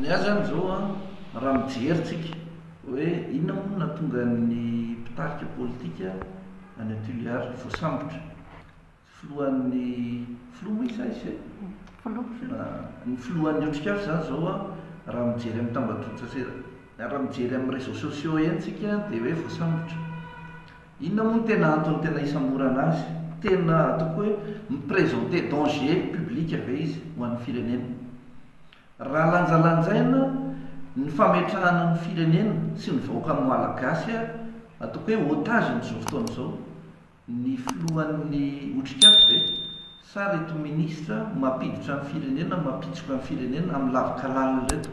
Ny ahy izany izao an, raha mijery tsika hoe inona moa no nahatonga ny mpitarika politika any an Tuléar voasambotra. Filohan'ny, filoha moa izy sa izy ve? Filoha, filoha. Ny filohan'ny Otrikafo izany izao an, raha mijery amin'ny tambajotran-tserasera, raha mijery amin'ny réseaux sociaux eny tsika dia hoe voasambotra. Inona moa no tena antony tena hisamborana azy? Tena ataoko hoe mi-presenter danger public ve izy ho an'ny firenena? Raha lanjalanjaina ny fametrahana ny firenena sy ny vahoaka Malagasy ary ataoko hoe otage amin'izao fotoana izao ny filohan'ny Otrikafo ve sa ireto ministra mampiditra ny firenena, mampitsoka ny firenena amin'ny lavin-kalalina ireto?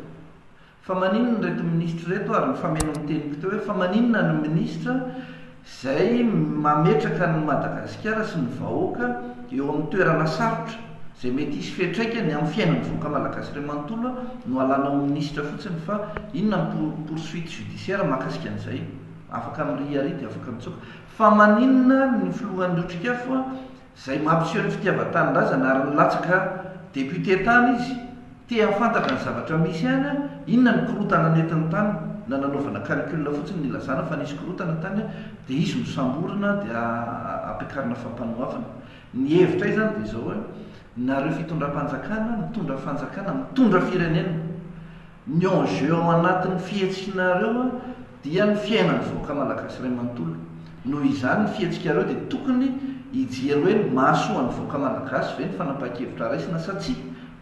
Fa maninona ireto minisitra ireto ary ny fameno ny teniko teo hoe fa maninona ny minisitra izay mametraka an'i Madagasikara sy ny vahoaka eo amin'ny toerana sarotra izay mety hisy fiatraikany amin'ny fiainan'ny vahoaka malagasy iray manontolo no alanao minisitra fotsiny fa inona ny poursuite judiciaire mahakasika an'izay? afaka miriaria dia afaka mitsoaka fa maninona ny filohan'ny otrikafo izay mampiseho ny fitiavan-tanindrazana ary nilatsaka député tany izy, te hahafantatra ny zavatra misy any an, inona ny korotana nentiny tany, na nanaovana calcul fotsiny nilazana fa nisy korotana tany an, dia hisy nosamborina dia ampiakarina fampanoavana. Ny hevitray izany dia izao hoe, nareo fitondram-panjakana mitondra fanjakana mitondra firenena. Ny enjeu ao anatin'ny fihetsiknareo dia ny fiainan'ny vahoaka malagasy iray manontolo. Noho izany ny fihetsikareo dia tokony hijery hoe mahasoa ny vahoaka malagasy ve ny fanapahan-kevitra raisina sa tsia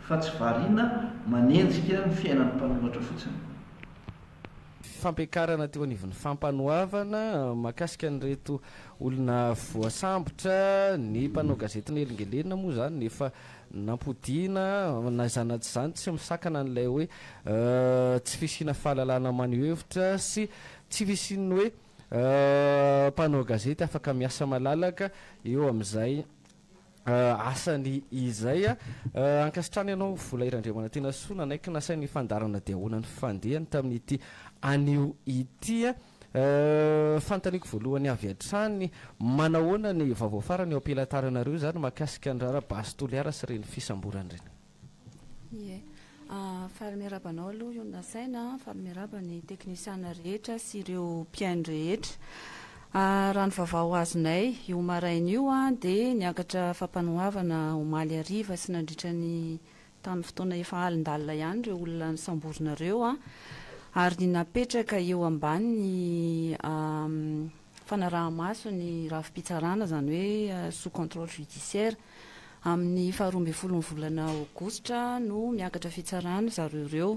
fa tsy variana manenjika ny fiainan'ny mpanoratra fotsiny. Fampiakarana teo anivon'ny Fampanoavana mahakasika an'ireto olona voasambotra, ny mpanao gazety Nely Ngelena moa izany efa Nampodiana na izany na tsy izany tsy misakana an'ilay hoe tsy fisiana fahalalana maneho hevitra sy tsy fisian'ny hoe mpanao gazety afaka miasa malalaka eo amin'izay asany izay. Ankasitrahana ianao Vola I Randriamanantena soa nanaiky nasaina hifandarana dia ahoana ny fandehany tamin'ity anio ity. Euh, fantaniko voalohany avy hatrany. Manahoana ny vaovao farany eo am-pilantaranareo izany mahakasika ny raharaha base Toliara sy ireny fisamborana ireny? Ie. Ah, faly miarahaba anao aloha Yon Nasaina, faly miarahaba ny teknisiana rehetra sy ireo mpihaino rehetra. Ah, raha ny vaovao azonay io maraina io dia niakatra fampanoavana omaly hariva sy nandritra ny tamin'ny fotoana efa alindalina ihany ireo olona nosamborina ireo ary napetraka eo ambanin'ny fanaraha-maso ny rafi-pitsarana, izany hoe sous contrôle judiciaire. Amin'ny faharoa ambin'ny folo ny volana aogositra no miakatra fitsarana ry zareo ireo.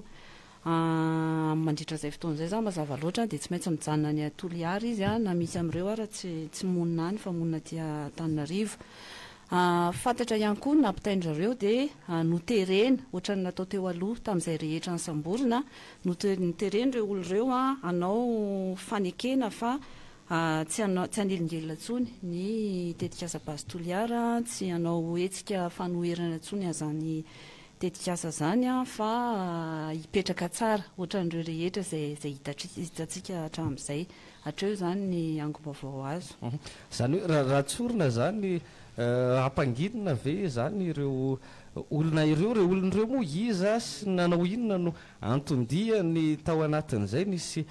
Amin mandritra izay fotoana izay za mazava loatra dia tsy maintsy mijanona any a Toliara izy a na misy amin'ireo ara tsy tsy monina any fa monina aty Antananarivo. A fantatra ihany koa ny nampitaindry zareo dia noterena ohatran'ny natao teo aloha tamin'izay rehetra nisamborina note noterena ireo olona ireo hanao fanekena fa a tsy hanao tsy hanelingelina intsony ny tetikasa Base Toliara tsy hanao hetsika fanoherana intsony azany tetikasa zany an fa hipetraka tsara otran'ireo rehetra zay zay hitantsika hatram'izay, hatreo zany ny angom-baovao azo. Zany hoe ra raha tsorina zany hampanginina ve zany ireo olona ireo, ireo olona ireo moa iza sy nanao inona no anton-diany tao anatin'izay, nisy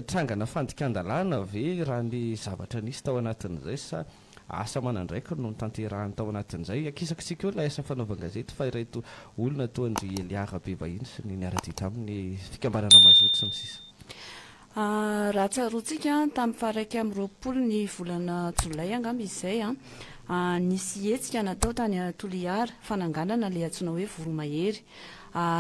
trangana fandikan-dalàna ve raha ny zavatra nisy tao anatin'izay sa Asa aman'andraikiny no notanterahiny tao anatin'izay. Akisakisika eo ilay asa fanaovan-gazety fa ireto olona toa an-dry Elia Rabebahiny sy ny niara-dia taminy, fikambanana Mazoto sy ny sisa. Raha tsaroantsika, tamin'ny faharaika amby roapolo ny volana jolay angamba izy izay, nisy hetsika natao tany Toliara, fananganana ilay antsoina hoe Voromahery.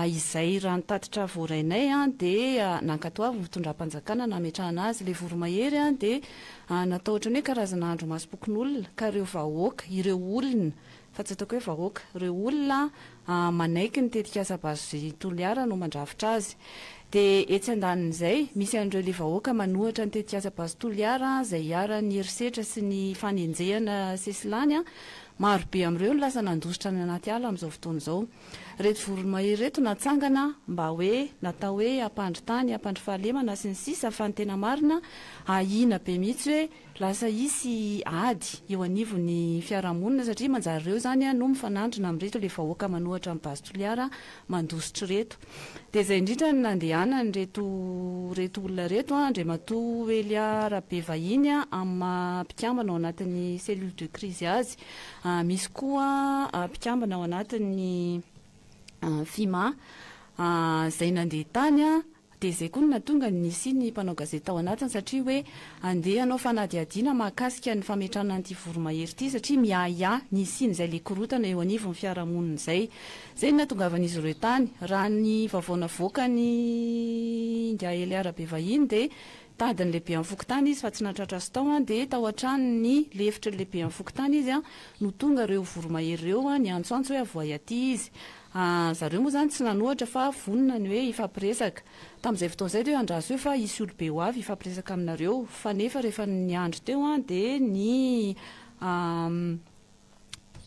Izay raha ny tatitra voarainay dia nankatoavin'ny fitondram-panjakana nametrahana azy. Ilay Voromahery dia An, natao ohatran'ny hoe karazana andro masom-pokonolona ka ireo vahoaka, ireo olona, fa tsy ataoko hoe vahoaka, ireo olona manaiky ny tetikasa Base Toliara no mandrafitra azy. Dia etsy andanin'izay, misy an'ireo le vahoaka manohatra ny tetikasa Base Toliara izay iharan'ny herisetra sy ny fanenjehana sesilany, maro be amin'ireo no lasa nandositra any anaty ala amin'izao fotoana izao. Reto voromahery reto natsangana mba hoe natao hoe hampandry tany, hampandry fahalemana sy ny sisa fa ny tena marina ahiana be mihitsy hoe lasa hisy ady eo anivon'ny fiarahamonina satria manjary ireo izany no mifanandrina amin'ireto ilay vahoaka manohatra an'i Base Toliara mandositra ireto. Dia izay indrindra no nandehanan'ireto ireto olona ireto an, Andriamatoa Elia Rabevahiny amin'ny maha mpikambana ao anatin'ny cellule de crise azy. Misy koa mpikambana ao anatin'ny Fima izay nandeha tany dia izay koa no nahatonga ny nisian'ny mpanao gazety tao anatiny satria hoe handeha hanao fanadihadiana mahakasika ny fametrahana an'ity voromahery ity satria miahiahy ny hisian'izay le korotana eo anivon'ny fiarahamonina izay. Izay no nahatongavan'izy ireo tany. Raha ny vaovao navoakan'ny Ingahy Eliara Bevahiny dia Tady ny lehiben'ny fokontany izy fa tsy nahatratra azy tao, dia tao an-trano ny lefitry ny lehiben'ny fokontany izy no tonga ireo voromahery ireo niantsoantso hoe avoahy aty izy. Zareo moa izany tsy nanohatra fa vonona ny hoe hifampiresaka. Tamin'izay fotoana izay dia hoe andraso eo fa hisy olobe ho avy hifampiresaka aminareo. Fanefa rehefa ny andro teo dia ny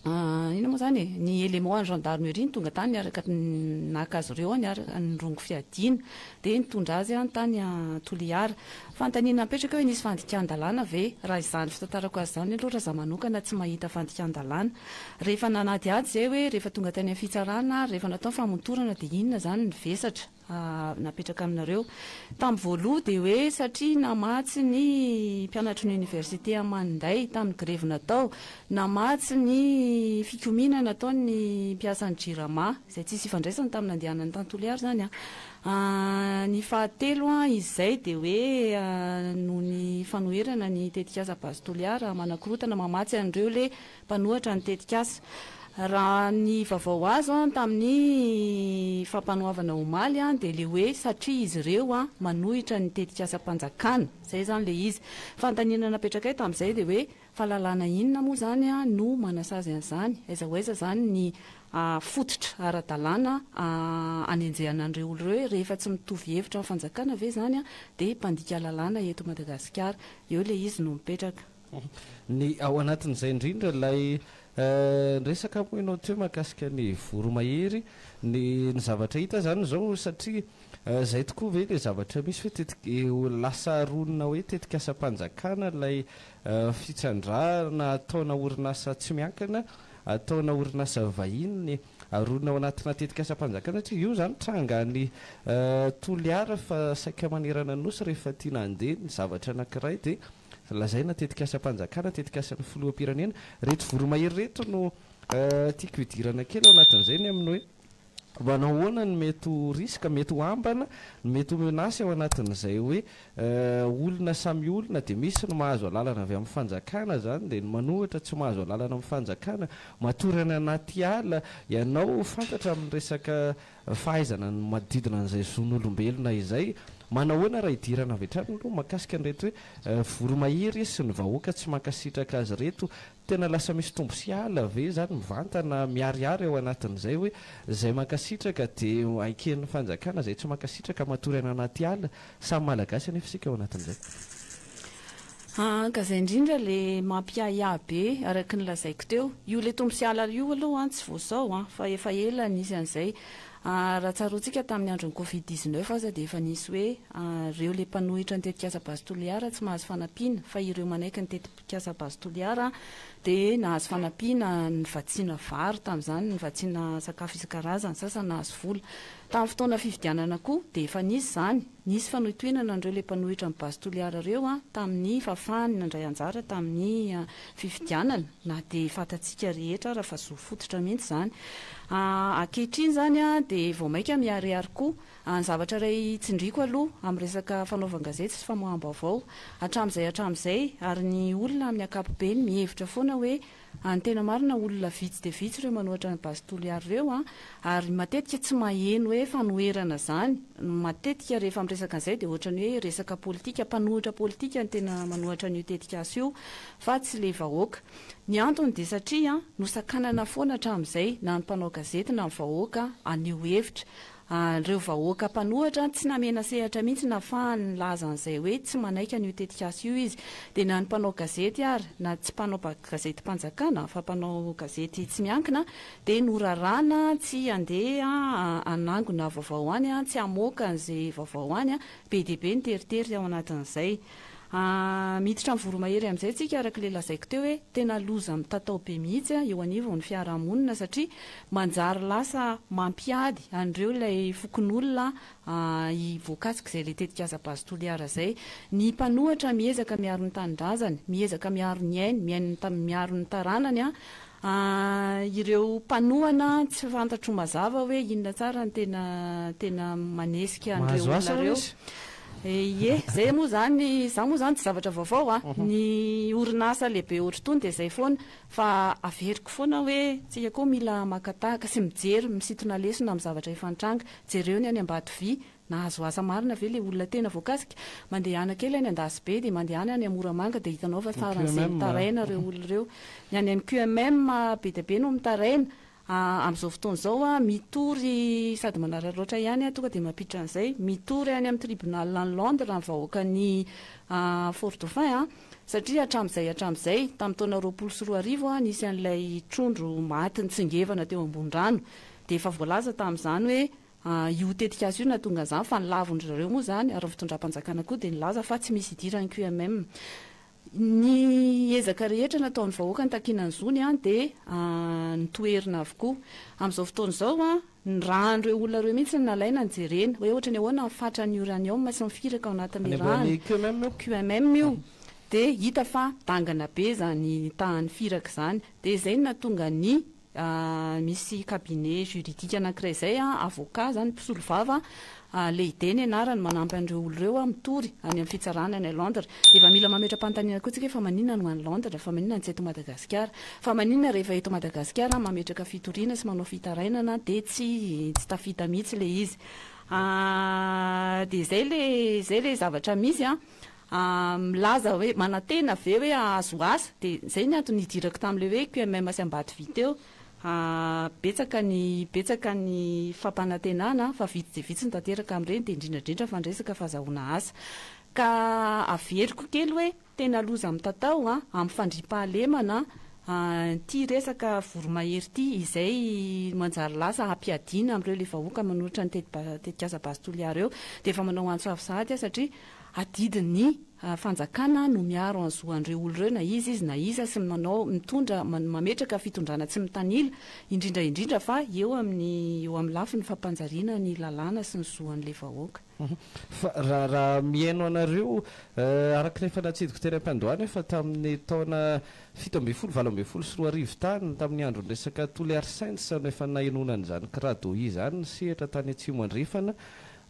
Inona moa izany e? Ny élément an'ny gendarmerie no tonga tany niaraka naka azy ireo niaraka nirongo fiadiana. Dia nitondra azy tany Toliara. Fanontaniana napetraka eo hoe nisy fandikan-dalàna ve? Raha izany fitantarako azy izany aloha raha izaho manokana tsy mahita fandikan-dalàna. Rehefa nanadihady izay hoe rehefa tonga tany amin'ny fitsarana ary rehefa natao ny famotorana dia inona izany ny vesatra? napetraka aminareo tamin'ny voaloha dia hoe satria namatsy ny mpianatry ny oniversite Amanday tamin'ny grevy natao, namatsy ny fikomiana nataon'ny mpiasan'ny Jirama, izay tsisy ifandraisany tamin'ny nandehanan'i Tantoliary izany an, ny fahatelo an izay dia hoe noho ny fanoherana ny tetikasa Base Toliara manakorotana mamatsy an'ireo le mpanohatra ny tetikasa. Raha ny vaovao azo tamin'ny fampanoavana omaly dia ilay hoe satria izy ireo manohitra ny tetikasam-panjakana. Izay izany ilay izy. Fanontaniana napetrakay tamin'izay dia hoe fa lalàna inona moa izany no manasazy an'izany? Aiza ho aiza izany ny fototra ara-dalàna anenjehana an'ireo olona ireo? Rehefa tsy mitovy hevitra amin'ny fanjakana ve izany dia mpandika lalàna eto Madagasikara? Eo ilay izy no mipetraka. Ny ao anatin'izay indrindra ilay resaka moa ianao teo mahakasika ny voromahery, ny ny zavatra hita izany izao satria izay tokoa ve ilay zavatra misy hoe tetika ho lasa ronina hoe tetikasam-panjakana ilay fitrandrahana ataona orinasa tsy miankina, ataona orinasa vahiny aronina ao anatina tetikasam-panjakana satria io izany tranga any Toliara fa saika manerana Nosy rehefa tiana handeha ny zavatra anankiray dia Lazaina tetikasam-panjakana, tetikasan'ny filoham-pirenena. Ireto voromahery ireto no tiako hidirana kely ao anatin'izay ny amin'ny hoe manao ahoana ny mety ho risque, mety ho ambana, ny mety ho menace ao anatin'izay hoe olona samy olona dia misy ny mahazo alalana avy amin'ny fanjakana izany dia ny manohitra tsy mahazo alalana amin'ny fanjakana. Matory any anaty ala ianao fantatra amin'ny resaka fahaizana ny manodidina an'izay zon'olombelona izay. Manao ahoana raha hidirana avy hatrany aloha mahakasika an'ireto hoe voromahery sy ny vahoaka tsy mankasitraka azy ireto? Tena lasa misy tombo sy ala ve izany mivantana miharihary ao anatin'izay hoe izay mankasitraka dia aiken'ny fanjakana izay tsy mankasitraka matory any anaty ala? Samy malagasy anefa isika ao anatin'izay. Aa ka zay indrindra le mampiahiahy be araky ny lazaiko teo. Io le tombo sy halala io aloha an tsy vao zao an fa efa ela nisy an'izay. Aa raha tsaroantsika tamin'ny andron'ny covid dix-neuf aza dia efa nisy hoe reo le mpanohitra ny tetikasa base Toliara tsy mahazo fanampiana fa ireo manaiky ny tetikasa base Toliara dia nahazo fanampiana nivatsiana vary tamin'izany, nivatsiana sakafo isan-karazany, sasany nahazo vola. Tamin'ny fotoana fifidianana koa dia efa nisy izany. Nisy fanohitohinana an'ireo ilay mpanohitra an'i Base Toliara ireo tamin'ny fahafahany nandray anjara tamin'ny fifidianana na dia fantatsika rehetra ara fa zo fototra mihitsy izany. Ankehitriny izany dia vao mainka miharihary koa. Ny zavatra iray tsindriako aloha amin'ny resaka fanaovan-gazety sy famoaham-baovao hatramin'izay hatramin'izay ary ny olona amin'ny ankapobeny mihevitra foana hoe Any tena marina olona vitsy dia vitsy ireo manohatra an'i Base Toliary ireo an! ary matetika tsy maheno hoe fanoherana izany, matetika rehefa miresaka an'izay dia ohatrany hoe resaka politika, mpanohitra politika no tena manohatra an'io tetikasa io fa tsy ilay vahoaka. Ny antony dia satria nosakanana foana hatramin'izay na ny mpanao gazety na ny vahoaka haneho hevitra, An'ireo vahoaka mpanohatra tsy namena sehatra mihitsy nahafahany nilaza an'izay hoe tsy manaiky an'io tetikasa io izy. Dia na ny mpanao gazety ary na tsy mpanao gazetim-panjakana fa mpanao gazety tsy miankina dia noraràna tsy handeha hanangona vaovao any, tsy hamoaka an'izay vaovao any. Be dia be ny teritery ao anatin'izay. Ahh miditra amin'ny voromahery amin'izay tsika araka ilay lazaiko teo hoe tena loza mitatao be mihitsy an eo anivon'ny fiarahamonina satria manjary lasa mampiady an'ireo ilay fokonolona an voakasik'izay ilay tetikasa Base Toliara izay ny mpanohatra miezaka miaro ny tanindrazany miezaka miaro ny ainy miaino ny miaro ny taranany an An, ireo mpanohana an, tsy fantatro mazava hoe inona tsara ny tena tena manesika an'ireo olona ireo. Mahazo asa hono izy. Ie, izay moa izany, izany moa izany tsy zavatra vaovao an. Ny orinasa lehibe ohatra itony dia izay foana. Fa averiko foana hoe tsika koa mila maka tahaka sy mijery, misintona lesona amin'ny zavatra efa nitranga. Jereo ny any Ambatovi, Nahazo asa marina ve le olona tena voakasika? Mandehana kely any Andasibe dia mandehana any Moramanga dia hitanao fa faran'izay mitaraina ireo olona ireo. Ny any amin'ny QMM be dia be no mitaraina. Amin'izao fotoana izao mitory sady manararaotra ihany tonga dia mampiditra an'izay. Mitory any amin'ny tribunal any Londres ny vahoakan'i Fort Dauphin satria hatramin'izay hatramin'izay, tamin'ny taona roapolo sy roa arivo nisy an'ilay trondro maty nitsingevana teo ambony rano dia efa voalaza tamin'izany hoe Io tetikasa io nahatonga izany fa ny lavon-dry zareo moa izany ary ny fitondram-panjakana koa dia nilaza fa tsy misy idiran'ny QMM. Ny ezaka rehetra nataon'ny vahoaka nitakiana ny zony dia notoherina avokoa. Amin'izao fotoana izao, ny ràn'ireo olona ireo mihitsy no nalaina nojerena hoe ohatran'ny ahoana ny fatran'ny uranium sy ny firaka ao anatin'ny ràn'ny QMM io dia hita fa dangana be izany tahan'ny firaka izany dia izay no nahatonga ny Misy cabinet juridique anankiray izay, avocat izany, mpisolovava, Leide ny anarany, manampy an'ireo olona ireo mitory any amin'ny fitsarana any Londres. Dia efa mila mametra-panontaniana koa isika hoe fa maninona no any Londres? Fa maninona no tsy eto Madagasikara? Fa maninona rehefa eto Madagasikara mametraka fitoriana sy manao fitarainana dia tsy tsy tafita mihitsy ilay izy? Dia izay ilay izay ilay zavatra misy an! milaza hoe manantena ve hoe hahazo asa dia izay ny antony nidirako tamin'ilay hoe QMM sy Ambatovi teo betsaka ny betsaka ny fampanantenana fa vitsy dia vitsy ny tanteraka amin'ireny dia indrindra indrindra fa ny resaka fahazahoana asa ka averiko kely hoe tena loza mitatao amin'ny fandriampahalemana ity resaka voromahery ity izay manjary lasa hampiadiana amin'ireo ilay vahoaka manolotra ny tetikasa Base Toliara eo dia efa manao antso avo sahady aho satria adidy ny fanjakana no miaro an zo anreo olo reo na iza izy na iza sy manao mitondra mametraka fitondrana tsy mitanila indrindra indrindra fa eo amin eo amin lafiny fampanjariana ny lalàna sy ny zo an le vahoaka. Fa raha raha mihaino anareo araka ny efa natsidiko teny ampiandohana efa tamin ny taona fito ambin'ny folo valo ambin'ny folo sy roa arivo tany tamin ny andron ny resaka Toliary Saints no efa nahenoana an izany kiradohi izany ny sehatra tany atsimo andrefana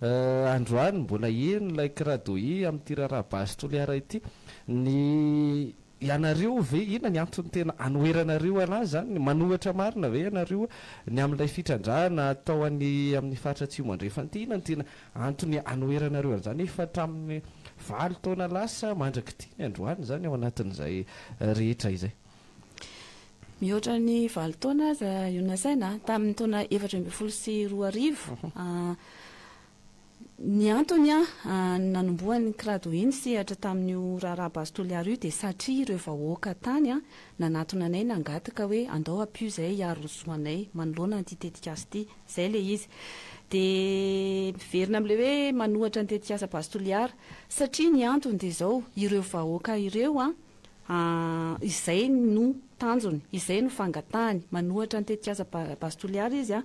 Euh androany mbola heno ilay kiradohi amin'ity raharaha Base Toliara ity. Ny ianareo ve inona ny antony tena anoheranareo anazy izany? Manohatra marina ve ianareo ny amin'ilay fitrandrahana atao any amin'ny faritra Atsimo Andrefana ity? Inona no tena antony anoheranareo an'izany efa hatramin'ny valo taona lasa mandrak'ity ny androany izany ao anatin'izay rehetra izay? Mihoatra ny valo taona aza io nasaina, tamin'ny taona efatra ambin'ny folo sy roa arivo. Ny antony nanombohan'ny Crado iny sehatra tamin'io raharaha Base Toliara io dia satria ireo vahoaka tany nanatona anay nangataka hoe andao ampio izay hiaro ny zo anay manoloana an'ity tetikasa ity. Izay ilay izy. Dia miverina amin'ilay hoe manohatra ny tetikasa Base Toliara. Satria ny antony dia izao, ireo vahoaka ireo Ah, izay no tanjony, izay no fangatahany. Manohatra ny tetikasa Base Toliara izy.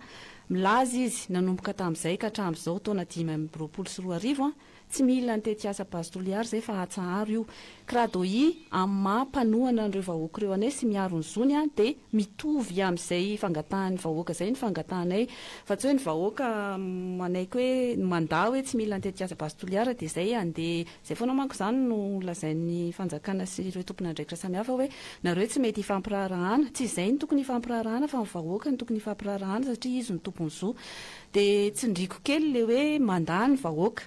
Milaza izy, nanomboka tamin'izay ka hatramin'izao, taona dimy amby roapolo sy roa arivo, tsy mila ny tetikasa Base Toliara izay fa atsaharo io. Crado I, amin'ny maha mpanohana an'ireo vahoaka ireo anay sy miaro ny zony, dia mitovy amin'izay fangatahan'ny vahoaka izay ny fangatahanay. Fa tsy hoe ny vahoaka manaiky hoe, mandà hoe tsy mila ny tetikasa Base Toliara dia izay handeha Izay foana manko izany no lazain'ny fanjakana sy ireo tompon'andraikitra samihafa hoe nareo tsy mety hifampiraharahana, tsy izay no tokony hifampiraharahana fa ny vahoaka no tokony hifampiraharahana satria izy no tompony zo. Dia tsindriako kely le hoe mandà ny vahoaka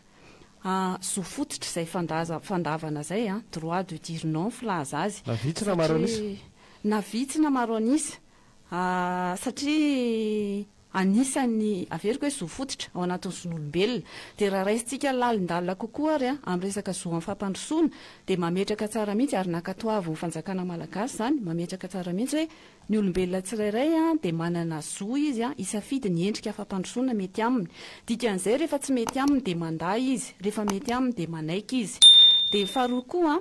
a, zo fototra izay fandaza, fandavana izay a, droit de dire non filaza azy, Na vitsy na maro an'isa. satria na vitsy na maro an'isa. satria anisan'ny, averiko hoe, zo fototra ao anatin'ny zon'olombelona. Dia raha raisintsika lalindalina kokoa ary amin'ny resaka zo amin'ny fampandrosoana, dia mametraka tsara mihitsy, ary nankatoavin'ny fanjakana malagasy izany, mametraka tsara mihitsy hoe ny olombelona tsirairay dia manana zo izy hisafidy ny endrika fampandrosoana mety aminy. Dikan'izay, rehefa tsy mety aminy dia mandà izy, rehefa mety aminy dia manaiky izy. Dia faharoa koa,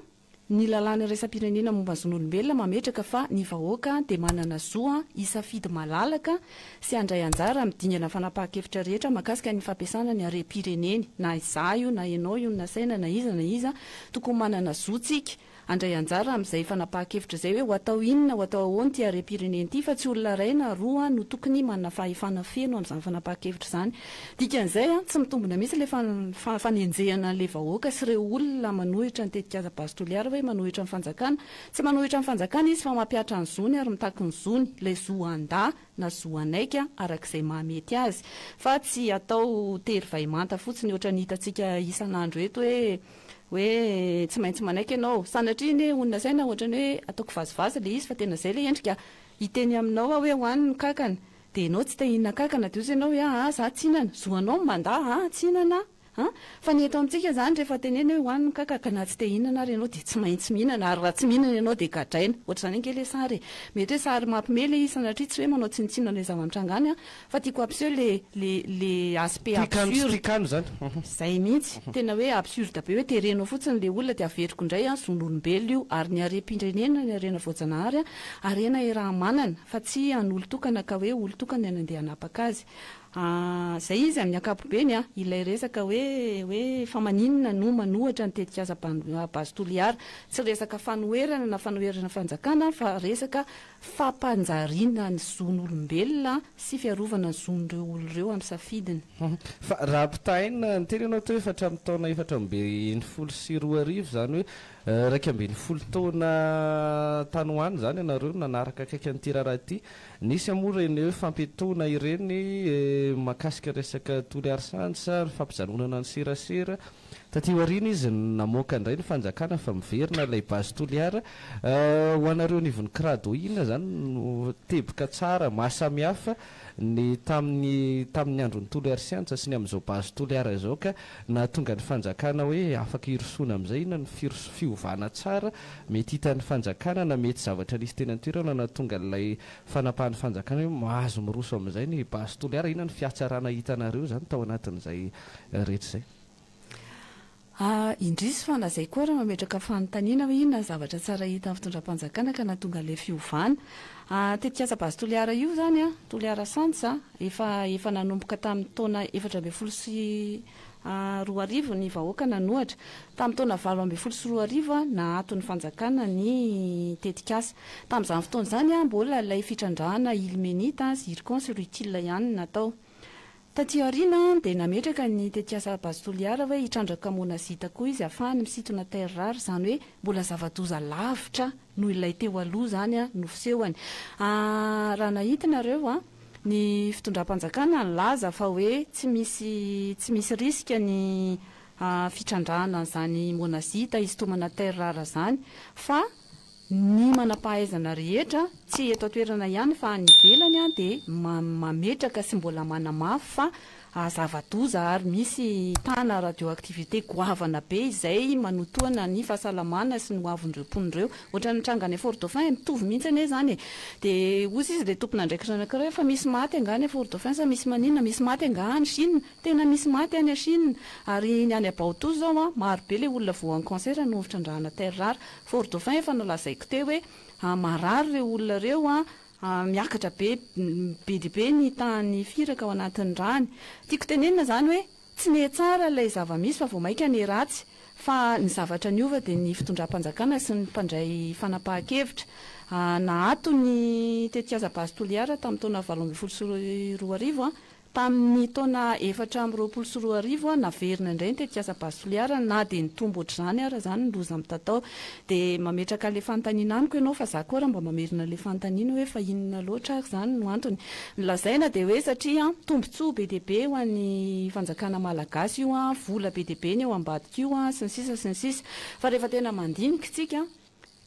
Ny lalàna iraisam-pirenena momba ny zon'olombelona mametraka fa ny vahoaka dia manana zo hisafidy malalaka sy handray anjara amin'ny dingana fanapahan-kevitra rehetra mahakasika ny fampiasana ny harem-pireneny. Na izaho io, na ianao io, na saina, na iza, na iza, tokony manana zo tsika handray anjara amin'izay fanapahan-kevitra izay hoe ho atao inona, ho atao ahoana ity harem-pirenena ity fa tsy olona iray na roa no tokony manana fahefana feno amin'izany fanapahan-kevitra izany. Dikan'izay, tsy mitombina mihitsy ilay fanenjehana an'ilay vahoaka sy ireo olona manohitra ny tetikasa Base Toliara hoe manohitra ny fanjakana. Tsy manohitra ny fanjakana izy fa mampihatra ny zony ary mitaky ny zony, ilay zo handà na zo hanaiky araka izay mahamety azy. Fa tsy hatao tery vay manta fotsiny ohatran'ny hitantsika isan'andro eto hoe hoe tsy maintsy manaiky ianao. Sanatria anie ho nasaina ohatran'ny hoe ataoko vazivazy ilay izy fa tena izay ilay endrika hiteny aminao aho hoe ho any ny kankana Dia enao tsy te hinana kankana dia ozy enao hoe aa za tsy hinana, zo anao ny mandà aa tsy hinana aa an! Fa ny eto amintsika izany rehefa teneno hoe hohano ny kankana ka na tsy te hinana ary enao dia tsy maintsy mihinana ary raha tsy mihinana enao dia gadraina. Ohatr'izany ange le sary e! Mety hoe sary mampme le izy sanatria tsy hoe manao tsinontsinona an'le zava-mitranga any an! Fa tiako hampiseho le le le aspect Tikan tsy absurde. tikan izany. Izay mihitsy. Tena hoe absurde be hoe terenao fotsiny le olona dia averiko indray an! Zon'olombelona io ary ny harem-pirenena ny harena voajanahary an! Harena Irahamanana, fa tsy an'olon-tokana ka hoe olon-tokana ny andeha hanapaka azy. Ahh, izay izy amin'ny ankapobeny an, ilay resaka hoe, hoe fa maninona no manohatra ny tetikasa Base Toliara. Tsy resaka fanoherana na fanoherana fanjakana fa resaka fampanjariana ny zon'olombelona sy fiarovana ny zon'ireo olona ireo amin'ny safidiny. Fa raha ampitahaina ny teny ianao teo efatra amby taona efatra amby enimpolo sy roa arivo izany hoe Iraika ambin'ny folo taona tany ho any izany ianareo no nanaraka akaiky an'ity raharaha ity. Nisy moa ireny hoe fampiatoana ireny mahakasika resaka toliarisany sa fampijanonana ny serasera. Taty aoriana izy namoaka indray ny fanjakana fa miverina ilay base toliara. Ho anareo anivon'ny Crado inona izany no teboka tsara, mahasamihafa ny tamin'ny tamin'ny andron'i Toliary Siantsa sy ny amin'izao Base Toliara izao ka nahatonga ny fanjakana hoe afaka hirosoana amin'izay inona ny firoso fiovana tsara mety hitan'ny fanjakana na mety zavatra nisy teny an-toerana nahatonga an'ilay fanapahan'ny fanjakana hoe mahazo miroso amin'izay ny Base Toliara inona ny fihatsarana hitanareo izany tao anatin'izay rehetra izay. Ah, indrisy fa lazaiko ary mametraka fanontaniana hoe inona ny zavatra tsara hita amin'ny fitondram-panjakana ka nahatonga an'ilay fiovana. Ah, tetikasa Base Toliara io izany an, Toliara Sands an, efa efa nanomboka tamin'ny taona efatra ambin'ny folo sy roa arivo ny vahoaka nanohatra. Tamin'ny taona valo ambin'ny folo sy roa arivo, naato ny fanjakana ny tetikasa. Tamin'izany fotoana izany, mbola ilay fitrandrahana ilmenite, zircon sy rutile ihany no natao. Taty aoriana dia nametraka ny tetikasa Base Toliara hoe hitrandraka monazita koa izy hahafahany misintona terres rares izany hoe mbola zava-doza lavitra noho ilay teo aloha izany no fisehony. Raha nahita nareo ny fitondram-panjakana nilaza fa hoe tsy misy tsy misy risque ny fitrandrahana an'izany monazita hisintomana terres rares izany fa Ny manam-pahaizana rehetra, tsy eto an-toerana ihany fa any ivelany, dia mametraka sy mbola manamafy fa zava-doza ary misy tana radioactivité goavana be izay manotoana ny fahasalamana sy ny hoavin'ireo mponina ireo. Ohatran'ny nitranga any Fort-Dauphin e, mitovy mihitsy anie izany e. Dia hoy izy ilay tompon'andraikitra anankiray hoe fa misy maty angaha any Fort-Dauphin sa misy maninona, misy maty angaha any Chine? Tena misy maty any Chine ary ny any Abaotoa izao an, maro be ilay olona voan'ny cancer noho ny fitrandrahana terres rares. Fort Dauphin efa nolazaiko teo hoe marary ireo olona ireo an, miakatra be be dia be ny tahan'ny firaka ao anatin'ny rany. Tiako tenenina izany hoe tsy niha tsara ilay zava-misy fa vao mainka niha ratsy fa ny zavatra niova dia ny fitondram-panjakana sy ny mpandray fanapahan-kevitra. Naato ny tetikasa Base Toliara tamin'ny taona valo ambin'ny folo sy roa arivo an, Tamin' ny taona efatra amby roapolo sy roa arivo, naverina indray ny tetikasa Basoliara na dia nitombo ohatr'izany ara izany ny loza mitatao. Dia mametraka an'ilay fanontaniana amiko ianao fa za koa ary mba mamerina an'ilay fanontaniana hoe fa inona loatra ary izany no antony? Ny lazaina dia hoe satria tombontsoa be dia be ho an'ny fanjakana malagasy io, vola be dia be ny eo ambadika io sy ny sisa sy ny sisa. Fa rehefa tena mandinika isika,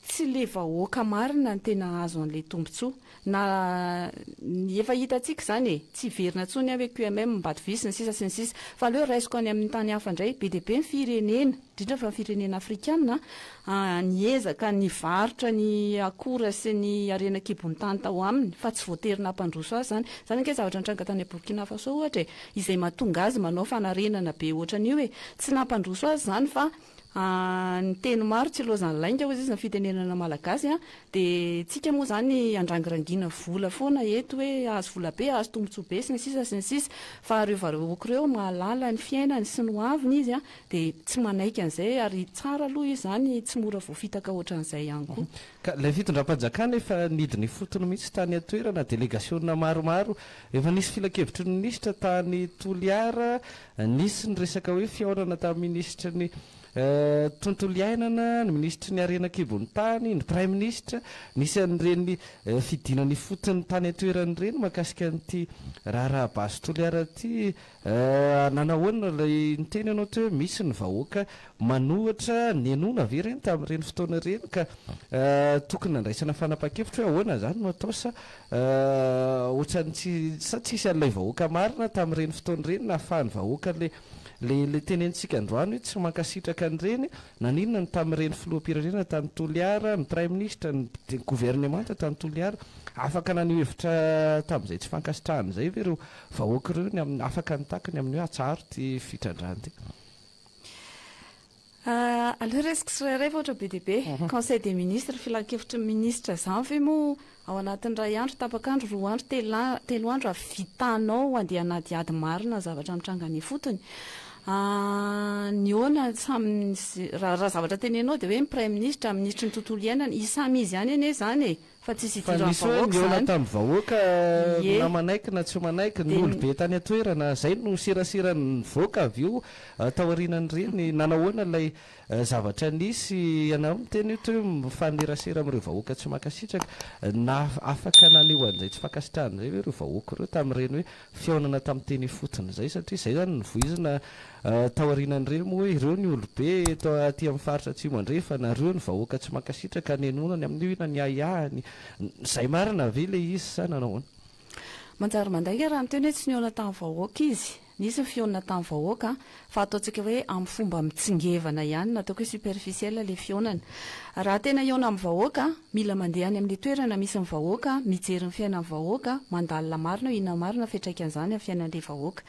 Tsy le vahoaka marina no tena hahazo an'le tombotsoa. Na ny efa hitantsika izany e! Tsy hiverina intsony an hoe QMM, Mbadv sy ny sisa sy ny sisa. Fa aleo raisiko any amin'ny tany hafa indray. Be dia be ny firenena, indrindra fa ny firenena afrikana an, niezaka nivarotra ny akora sy ny harena an-kibon'ny tany tao aminy fa tsy voatery nampandroso azy izany. Izany ange zavatra nitranga tany Burkina Faso ohatra e! Izay mahatonga azy manao fanarenana be ohatran'io e! Tsy nampandroso azy izany fa Ny teny maro tsy ilaozan'ny lainga hoy izy ny fitenenana malagasy dia tsika moa izany andrangirangiana vola foana eto hoe ahazo vola be, ahazo tombotsoa be sy ny sisa sy ny sisa fa ireo vahoaka ireo mahalala ny fiainany sy ny ho aviny izy dia tsy manaiky an'izay ary tsara aloha izy izany tsy mora voafitaka ohatran'izay ihany koa. Ka ilay fitondram-panjakana efa nidina ifotony mihitsy tany an-toerana, delegasiona maromaro, efa nisy filankevitry ny minisitra tany Toliara Nisy ny resaka hoe fihaonana tamin'ny minisitry ny Tontolo iainana, ny minisitry ny Harena an-kibon'ny tany, ny praiminisitra. Nisy an'ireny fidinana ifotony tany an-toerana ireny mahakasika an'ity raharaha base Toliara ity. Nanahoana ilay niteny ianao teo hoe misy ny vahoaka manohitra? Nihenoana ve ireny tamin'ireny fotoana ireny ka tokony nandraisana fanapahan-kevitra hoe ahoana izany no atao sa Ahh otrany tsy sa tsisy an'ilay vahoaka marina tamin'ireny fotoana ireny nahafahan'ny vahoaka le le le tenenitsika androany hoe tsy mankasitraka an'ireny naninona ny tamin'ireny filoham-pirenena tany Toliara ny praiminisitra ny governemanta tany Toliara afaka naneho hevitra tamin'izay tsy fankasitrahany izay ve ireo vahoaka ireo ny amin'ny afaka nitaky ny amin'ny hoe atsaharo ity fitrandrahana ity. Aleo resiko tsirairay fa ohatra be dia be. Conseil des ministres, filankevitry ny minisitra izany ve moa ao anatin'ny iray andro, tapaka andro, roa andro, telo andro avy vitanao handeha hanadihady marina ny zavatra mitranga any ifotony? Nihaona samy, raha zavatra tenenao dia hoe ny praiminisitra, minisitry ny tontolo iainana, i samy izy ihany anie izany e! Fa tsisy hidiran'ny vahoaka izany. Fa nisy hoe nihaona tamin'ny vahoaka na manaiky na tsy manaiky, ny olobe tany an-toerana. Izay no serasera nivoaka avy eo taorianan'ireny. Nanao ahoana ilay zavatra nisy? Ianareo miteny eto hoe mifanerasera amin'ireo vahoaka tsy mankasitraka. Afaka naneho an'izay tsy fankasitrahany izay ve ireo vahoaka ireo tamin'ireny hoe fihaonana tamin'ny teny ifotony izay satria izay izany no voizina tao aorianan'ireny moa hoe ireo ny olobe eto aty amin'ny faritra Atsimo Andrefana, ireo ny vahoaka tsy mankasitraka ka nenonany amin'io inona ny ahiahiny, izay marina ve ilay izy sa nanao ahoana? Manjary mandainga raha miteny hoe tsy nihaona tamin'ny vahoaka izy. Nisy ny fihaonana tamin'ny vahoaka fa ataontsika hoe amin'ny fomba mitsingevana ihany na ataoko hoe superficiel ilay fihaonana. Raha tena hihaona amin'ny vahoaka, mila mandeha any amin'ny toerana misy ny vahoaka, mijery ny fiainan'ny vahoaka, mandalina marina hoe inona marina ny fiantraikan'izany amin'ny fiainan'ilay vahoaka.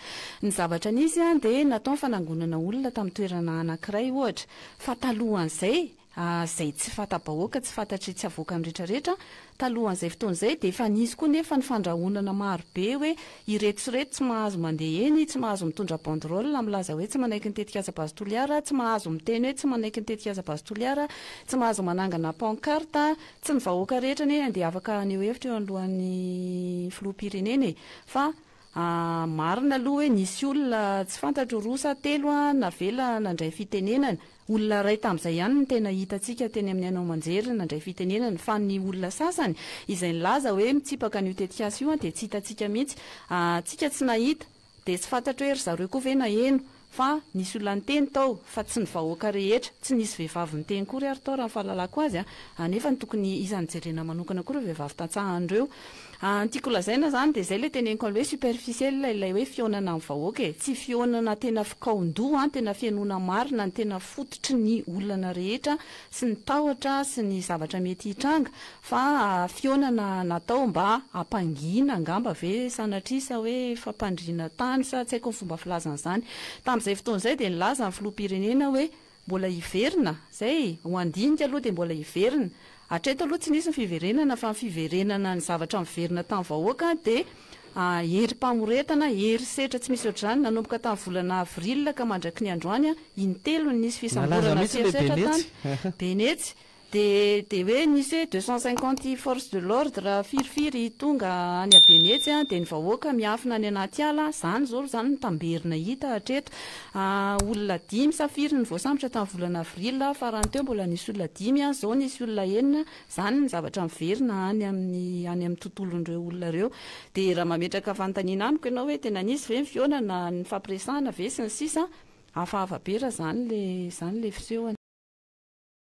Ny zavatra nisy dia natao ny fanangonana olona tamin'ny toerana anankiray ohatra, fa talohan'izay, izay tsy fanta-bahoaka, tsy fantatry tsy avoaka ny rehetra rehetra, talohan'izay fotoana izay dia efa nisy koa nefa ny fandrahonana maro be hoe ireto sy ireto tsy mahazo mandeha eny, tsy mahazo mitondra banderole milaza hoe tsy manaiky ny tetikasa Base Toliara, tsy mahazo miteny hoe tsy manaiky ny tetikasa Base Toliara, tsy mahazo manangana pancarte, tsy ny vahoaka rehetra anie dia afaka haneho hevitra eo anoloan'ny filoham-pirenena e! fa marina aloha hoe nisy olona tsy fantatro roa sa telo navela nandray fitenenana, Olona iray tamin'izay ihany no tena hitantsika teny amin'ny haino aman-jery nandray fitenenana, fa ny olona sasany izay nilaza hoe mitsipaka an'io tetikasa io dia tsy hitantsika mihitsy. Antsika tsy nahita, dia tsy fantatro hoe ry zareo koa ve naheno, fa nisy olona niteny tao, fa tsy ny vahoaka rehetra. Tsy nisy vehivavy niteny koa ry ary tao raha ny fahalalako azy, nefa ny tokony isan'ny jerena manokana koa ireo vehivavy tantsaha an'ireo. An tiako lazaina zany de zay le teneniko any hoe superficiel ilay hoe fihaonana am vahoaka e, tsy fihaonana tena fikaondoha an, tena fihainoana marina ny tena fototry ny olana rehetra sy ny tahotra sy ny zavatra mety hitranga fa fihaonana natao mba hampangina angamba ve sanatria sa hoe fampandriana tany sa tsy haiko ny fomba filazany zany, tamzay fotoana zay de nilaza ny filoham-pirenena hoe. Mbola hiverina? Zay e! Ho handinika aloha dia mbola hiverina. Hatreto aloha tsy nisy ny fiverenana fa ny fiverenana ny zavatra miverina tamin'ny vahoaka dia herim-pamoretana, herisetra tsy misy ohatr'izany nanomboka tamin'ny volana avril ka mandraky ny androany intelo no nisy fisamborana sy herisetra tany Benetsy. Dia dia hoe nisy hoe deux cent cinquante forces de l'ordre firifiry tonga any Abenetsy an, dia ny vahoaka miafina any anaty ala an, izany izao izany no tamberina hita hatreto. Olona dimy sa firy no voasambotra tamin'ny volana avril farany teo, mbola nisy olona dimy an, izao nisy olona enina, izany ny zavatra miverina any amin'ny any amin'ny tontolon'ireo olona ireo. Dia raha mametraka fanontaniana amiko ianao hoe tena nisy ve ny fihaonana, nifampiresahana ve sy ny sisa an, hafahafa be raha izany ilay izany ilay fisehony.